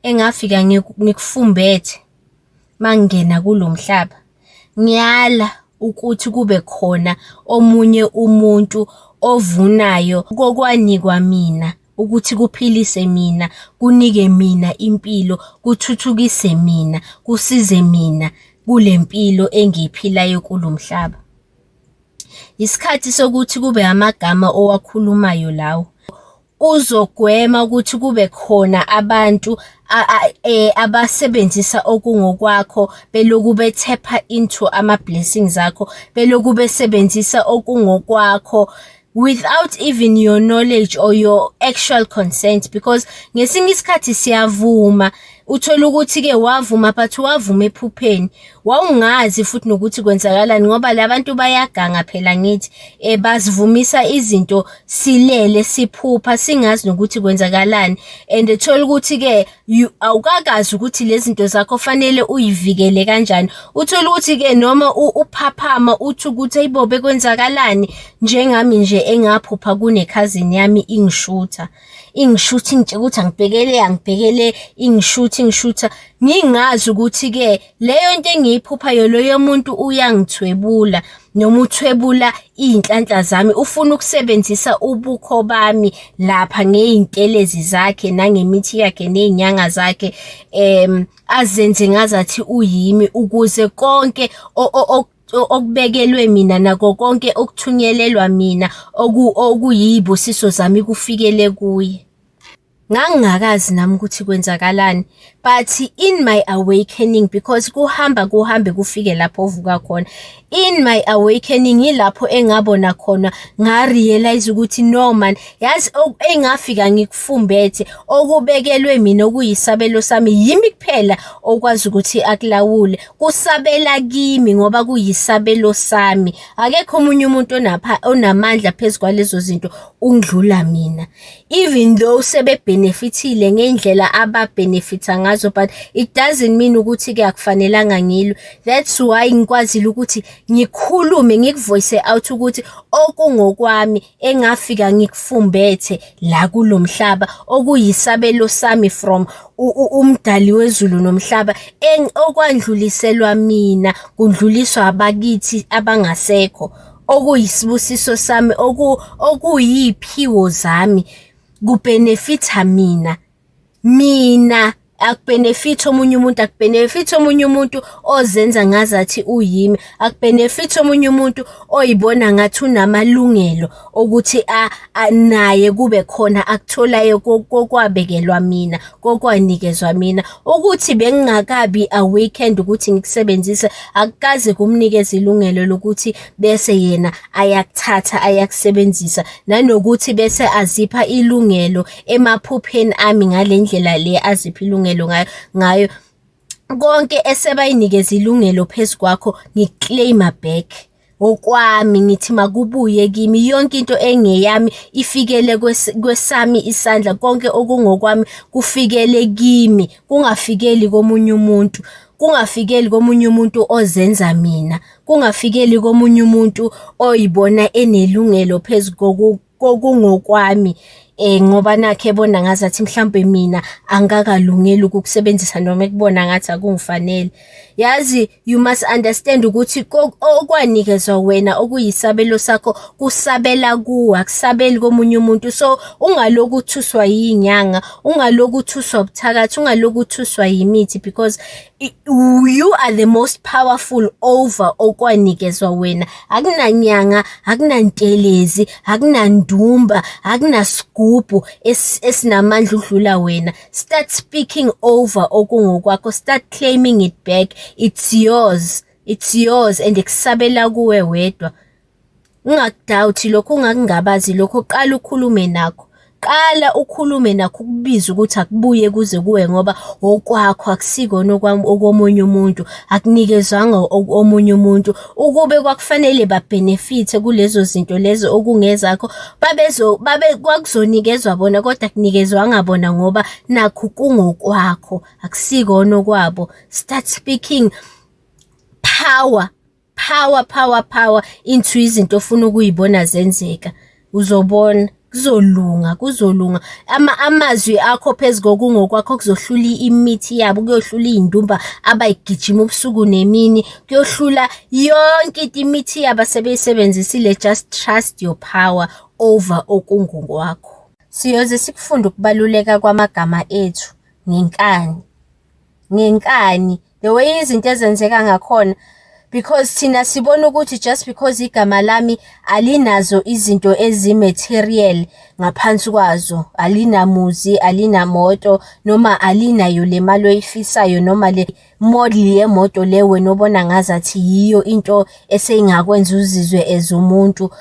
engafika ngikufumbethe mangingena kulo mhlaba. Ngiyala ukuthi kube khona omunye umuntu ovunayo kokwanikwa mina ukuthi kuphilise mina, kunike mina impilo, kuthuthukise mina, kusize mina kule mpilo engiyiphilayo kulo mhlaba. Isikhathi sokuthi kube amagama owakhulumayo lawo. uzogwema ukuthi kube khona abantu eh, abasebenzisa okungokwakho beloku bethepha into ama-blessings akho beloku besebenzisa okungokwakho without even your knowledge or your actual consent because ngesinye isikhathi siyavuma Uthola ukuthi-ke wavuma but wavuma ephupheni. Wawungazi futhi nokuthi kwenzakalani ngoba la bantu bayaganga phela ngithi um basivumisa izinto silele siphupha singazi nokuthi kwenzakalani and thola ukuthi-ke awukakazi ukuthi lezi zinto zakho fanele uyivikele kanjani. Uthola ukuthi-ke noma uphaphama uthi ukuthi ayibo bekwenzakalani njengami nje engaphupha kunekhazini yami ingishutha. ingishutha ingitshe ukuthi angibhekele angibhekele ingishutha ingishutha ngingazi ukuthi-ke leyo nto engiyiphuphayo loyo muntu uyangithwebula noma uthwebula iy'nhlanhla zami ufuna ukusebenzisa ubukho bami lapha ngey'ntelezi zakhe nangemithi yakhe ney'nyanga zakhe um azenze ngazathi uyimi ukuze konke okubekelwe mina nako konke okuthunyelelwa mina okuyibusiso zami kufikele kuye ngangingakazi nami ukuthi kwenzakalani but in my awakening because kuhamba kuhambe kufike lapho ovuka khona in my awakening yilapho engabona khona ngarealize ukuthi no man yazi engafika ngikufumbethe okubekelwe mina okuyisabelo sami yimi kuphela okwazi ukuthi akulawule kusabela kimi ngoba kuyisabelo sami akekho omunye umuntu onapha onamandla phezu kwalezo zinto ungidlula mina even though sebebenefithile ngendlela ababenefitha ngazo but it doesn't mean ukuthi ke akufanelanga ngilwe that's why ngikwazile ukuthi ngikhulume ngikuvoice out ukuthi okungokwami engafika ngikufumbethe la kulomhlaba okuyisabelo sami from umdali wezulu nomhlaba okwandluliselwa mina kundluliswa abakithi abangasekho okuyisibusiso sami okuyiphiwo zami kubenefitha mina mina akubenefit omunye umuntu akubenefit omunye umuntu ozenza ngazathi uyimi akubenefit omunye umuntu oyibona ngathi unamalungelo okuthi naye kube khona akutholayo kokwabekelwa mina kokwanikezwa mina ukuthi bengingakabi a weekend ukuthi ngikusebenzise akukaze kumnikeza ilungelo lokuthi bese yena ayakuthatha ayakusebenzisa nanokuthi bese azipha ilungelo emaphupheni ami ngale ndlela le aziphi ilungelo ngayo ngayo konke esebayinikeza ilungelo phezu kwakho ngiclaima back okwami ngithi makubuye kimi yonke into engeyami ifikele kwesami isandla konke okungokwami kufikele kimi kungafikeli komunye umuntu kungafikeli komunye umuntu ozenza mina kungafikeli komunye umuntu oyibona enelungelo phezu kokungokwami eh ngoba nakhe ebona ngathi athi mhlambe mina angakalungeli ukukusebenzisa noma ekubona ngathi akungifanele yazi you must understand ukuthi okwanikezwa wena okuyisabelo sakho kusabela kuwe akusabeli komunye umuntu so ungaloku uthuswa yinyanga ungaloku uthuswa ubuthakathi ungaloku uthuswa yimithi because you are the most powerful over okwanikezwa wena akunanyanga akunantelezi akunandumba akunasigubhu esinamandla udlula wena start speaking over okungokwakho start claiming it back it's yours it's yours and kusabela kuwe wedwa Ungakudawuthi lokho ungakungabazi lokho qala ukhulume nakho. Qala ukhulume nakho ukubiza ukuthi akubuye kuze kuwe ngoba okwakho akusikona okomunye umuntu, akunikezwanga omunye umuntu. Ukube kwakufanele babhenefithe kulezo zinto lezo okungezakho babezo babe kwakuzonikezwa bona kodwa akunikezwanga bona ngoba nakhu kungokwakho akusikona okwabo. Start speaking power. power power power into izinto ofuna ukuyibona zenzeka uzobona kuzolunga kuzolunga ama amazwi akho phezulu kokungokwakho kuzohlula imithi yabo kuyohlula izindumba abayigijima ubusuku nemini kuyohlula yonke into imithi yabo sebeyisebenzisile just trust your power over okungokwakho siyoze sikufunde ukubaluleka kwamagama ethu ngenkani ngenkani the way izinto ezenzeka ngakhona because thina sibona ukuthi just because igama lami alinazo izinto ezi-material ngaphansi kwazo alinamuzi alinamoto noma alinayo le mali oyifisayo noma le model yemoto le wena obona ngazathi yiyo into eseyingakwenza uzizwe as umuntu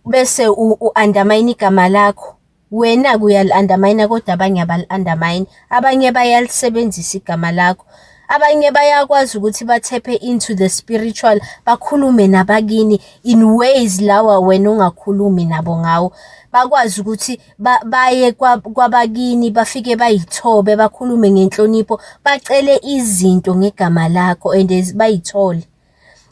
bese u-undermine igama lakho Wena-ke uyali-undermine-a kodwa abanye abali-undermine. Abanye bayalisebenzisa igama lakho. Abanye bayakwazi ukuthi bathephe into the spiritual, bakhulume nabakini in ways lawa wena ongakhulumi nabo ngawo. Bakwazi ukuthi ba- baye kwa- kwabakini bafike bayithobe, bakhulume ngenhlonipho, bacele izinto ngegama lakho and bayithole.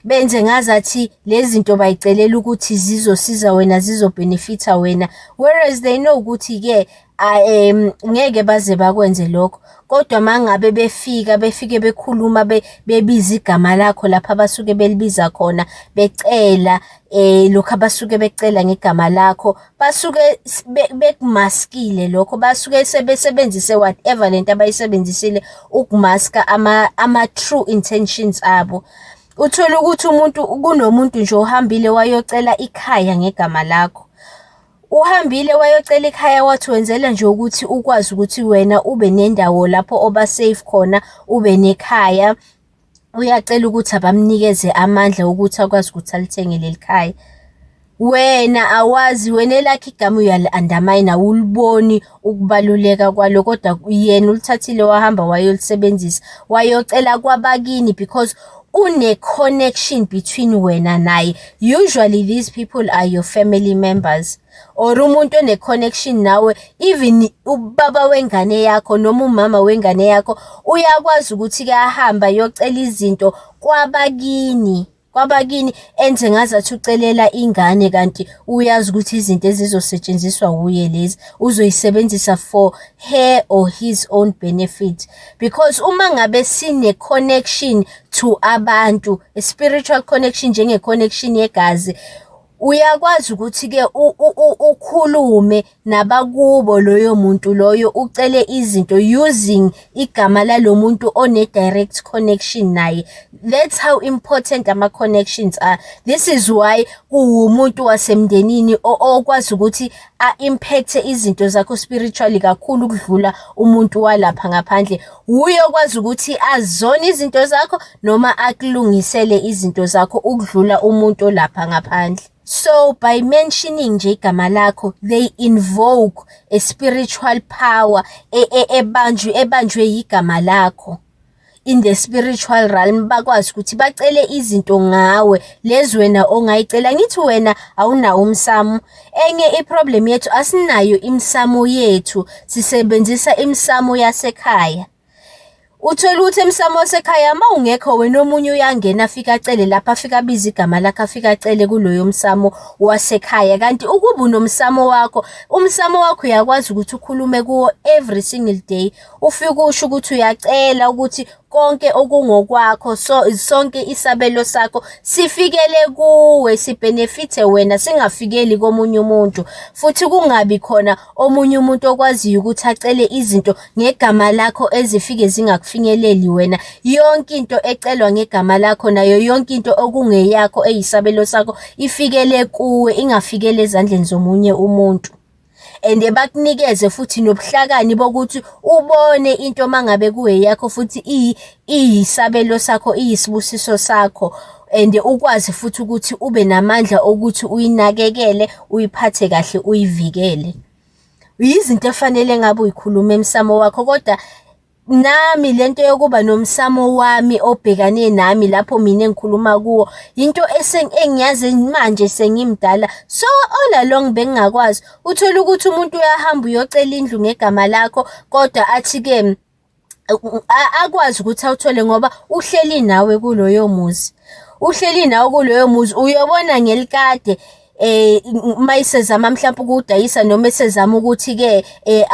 benze ngazathi lezi zinto bayicelela ukuthi zizosiza wena zizobhenefitha wena whereas they know ukuthi-ke um ngeke baze bakwenze lokho kodwa mangabe befika befike bekhuluma bebiza igama lakho lapha abasuke belibiza khona becela eh lokho abasuke becela ngegama lakho basuke bekumaskile lokho basuke sebesebenzise whatever lento abayisebenzisile ukumaska ama ama true intentions abo uthole ukuthi umuntu kunomuntu nje ohambile wayocela ikhaya ngegama lakho uhambile wayocela ikhaya wathi wenzela nje ukuthi ukwazi ukuthi wena ube nendawo lapho oba safe khona ube nekhaya uyacela ukuthi abamnikeze amandla okuthi akwazi ukuthi alithenge leli khaya wena awazi wena elakhe igama uyali-andamine awuliboni ukubaluleka kwalo kodwa yena ulithathile wahamba wayolisebenzisa wayocela kwabakini because une-connection between wena naye usually these people are your family members or umuntu one connection nawe even ubaba wengane yakho noma umama wengane yakho uyakwazi ukuthi ke ahamba yocela izinto kwabakini kwabakini enze ngazathi ucelela ingane kanti uyazi ukuthi izinto ezizosetshenziswa wuye lezi uzoyisebenzisa for her or his own benefit because uma ngabe sine connection to abantu a spiritual connection njenge connection yegazi uyakwazi ukuthi-ke ukhulume nabakubo loyo muntu loyo ucele izinto using igama lalo muntu one-direct connection naye that's how important ama-connections are this is why kuwumuntu wasemndenini okwazi ukuthi a-impacthe izinto zakho spiritually kakhulu ukudlula umuntu walapha ngaphandle wuye okwazi ukuthi azona izinto zakho noma akulungisele izinto zakho ukudlula umuntu olapha ngaphandle so by mentioning nje igama lakho they invoke a spiritual power e, e, ebanjwe ebanjwe yigama lakho in the spiritual realm bakwazi ukuthi bacele izinto ngawe lezi wena ongayicela ngithi wena awunawo umsamo enye iproblem yethu asinayo imsamo yethu sisebenzisa imsamo yasekhaya Uthole ukuthi emsamo wasekhaya uma ungekho wena omunye uyangena afike acele lapha afike abize igama lakhe afike acele kuloyo msamo wasekhaya kanti ukuba unomsamo wakho umsamo wakho uyakwazi ukuthi ukhulume kuwo every single day ufike usho ukuthi uyacela ukuthi konke okungokwakho so sonke isabelo sakho sifikele kuwe sibhenefithe wena singafikeli komunye umuntu futhi kungabi khona omunye umuntu okwaziyo ukuthi acele izinto ngegama lakho ezifike zingakufinyeleli wena yonke into ecelwa ngegama lakho nayo yonke into okungeyakho eyisabelo sakho ifikele kuwe ingafikele ezandleni zomunye umuntu and bakunikeze futhi nobuhlakani bokuthi ubone into mangabe kuyeyakho futhi iyisabelo sakho iyisibusiso sakho and ukwazi futhi ukuthi ube namandla okuthi uyinakekele uyiphathe kahle uyivikele yizinto efanele ngabe uyikhuluma emsamo wakho kodwa nami lento yokuba nomsamo wami obhekane nami lapho mina engikhuluma kuwo into engiyazi manje sengimdala so all along bengingakwazi uthola ukuthi umuntu uyahamba uyocela indlu ngegama lakho kodwa athi ke akwazi ukuthi awuthole ngoba uhleli nawe kuloyo muzi uhleli nawe kuloyo muzi uyobona ngelikade eh uma isezama mhlawumbe ukudayisa noma esezama ukuthi ke eh,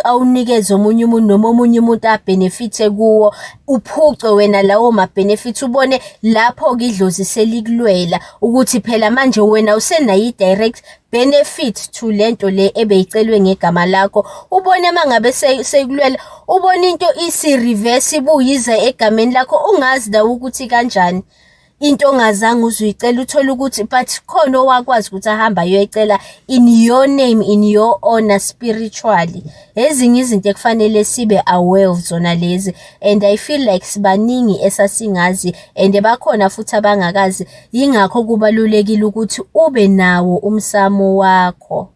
awunikeze omunye umuntu noma omunye umuntu abenefithe kuwo uphucwe wena lawo ma benefits ubone lapho ke idlozi selikulwela ukuthi phela manje wena usenayi direct benefit to lento le ebeyicelwe ngegama lakho ubone mangabe sekulwela ubona into isi reverse ibuyiza egameni lakho ungazi nawe ukuthi kanjani into ongazange uzuyicela uthole ukuthi but khona owakwazi ukuthi ahamba ayoyicela in your name in your honor spiritually ezinye izinto ekufanele sibe aware of zona lezi and i feel like sibaningi esasingazi and bakhona futhi abangakazi Yingakho kubalulekile ukuthi ube nawo umsamo wakho.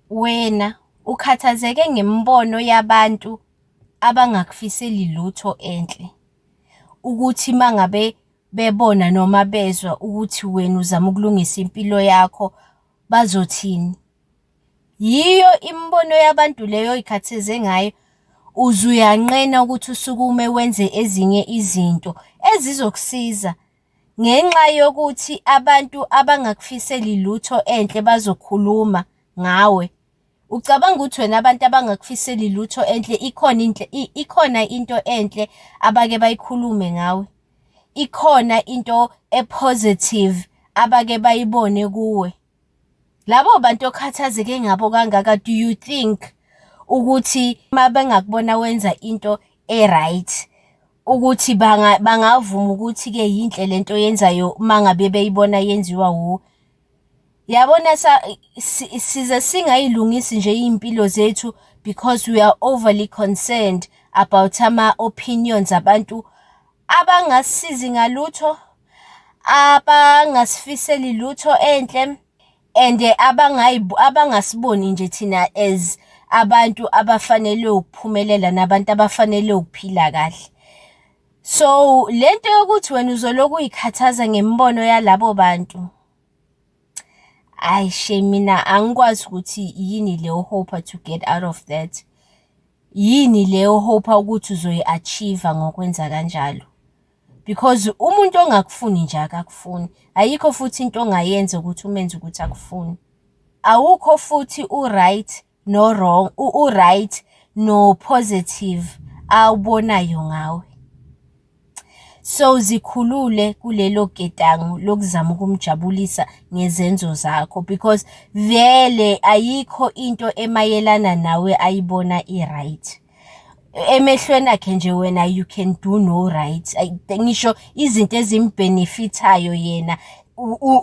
Wena ukhathazeke ngemibono yabantu abangakufiseli lutho enhle. Ukuthi uma ngabe bebona noma bezwa ukuthi wena uzama ukulungisa impilo yakho bazothini. Yiyo imibono yabantu leyo oy'khathaze ngayo, uze uyanqena ukuthi usukume wenze ezinye izinto ezizokusiza Ngenxa yokuthi abantu abangakufiseli lutho enhle bazokhuluma ngawe. Ucabanga ukuthi wena abantu abangakufiseli lutho enhle ikhona into ikhona into enhle abake bayikhulume ngawe? Ikhona into epositive abake bayibone kuwe? labo bantu okhathazeke ngabo kangaka do you think ukuthi uma bengakubona wenza into e-right ukuthi banga bangavuma ukuthi-ke yinhle le nto yenzayo uma ngabe beyibona yenziwa wuwe yabona sa size singayilungisi nje iy'mpilo zethu because we are overly concerned about ama-opinions abantu abangasizi ngalutho abangasifiseli lutho enhle and abangasiboni nje thina as abantu abafanele ukuphumelela nabantu abafanele ukuphila kahle so lento yokuthi wena uzoloku uyikhathaza ngemibono yalabo bantu ayi she mina angikwazi ukuthi yini leyo hope to get out of that yini leyo hope ukuthi uzoyi-achieve ngokwenza kanjalo because umuntu ongakufuni nje akakufuni ayikho futhi into ongayenza ukuthi umenze ukuthi akufuni awukho futhi u-right no-wrong u-right no-positive awubonayo ngawe so zikhulule kulelo getango lokuzama ukumjabulisa ngezenzo zakho because vele ayikho into emayelana nawe ayibona i-right emehlweni akhe nje wena you can do no right ngisho izinto ezimbenefithayo yena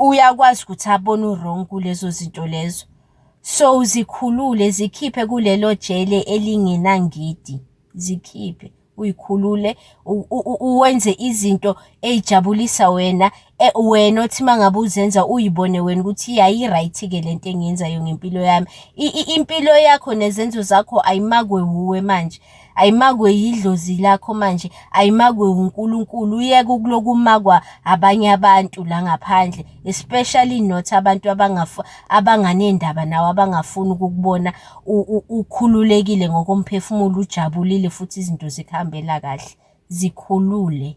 uyakwazi ukuthi abone uwrong kulezo zinto lezo so zikhulule zikhiphe kulelo jele elingenangidi zikhiphe uyikhulule uwenze izinto eyijabulisa wena Eh, wena othi uma ngabe uzenza uyibone wena ukuthi yayi-right-ke le nto engiyenzayo ngempilo yami impilo yakho nezenzo zakho ayimakwe wuwe manje ayimakwe yidlozi lakho manje ayimakwe wunkulunkulu uyeke ukulokumakwa abanye abantu la ngaphandle especially not abantu abanganendaba nawe abangafuni ukukubona ukhululekile ngokomphefumulo ujabulile futhi izinto zikuhambela kahle zikhulule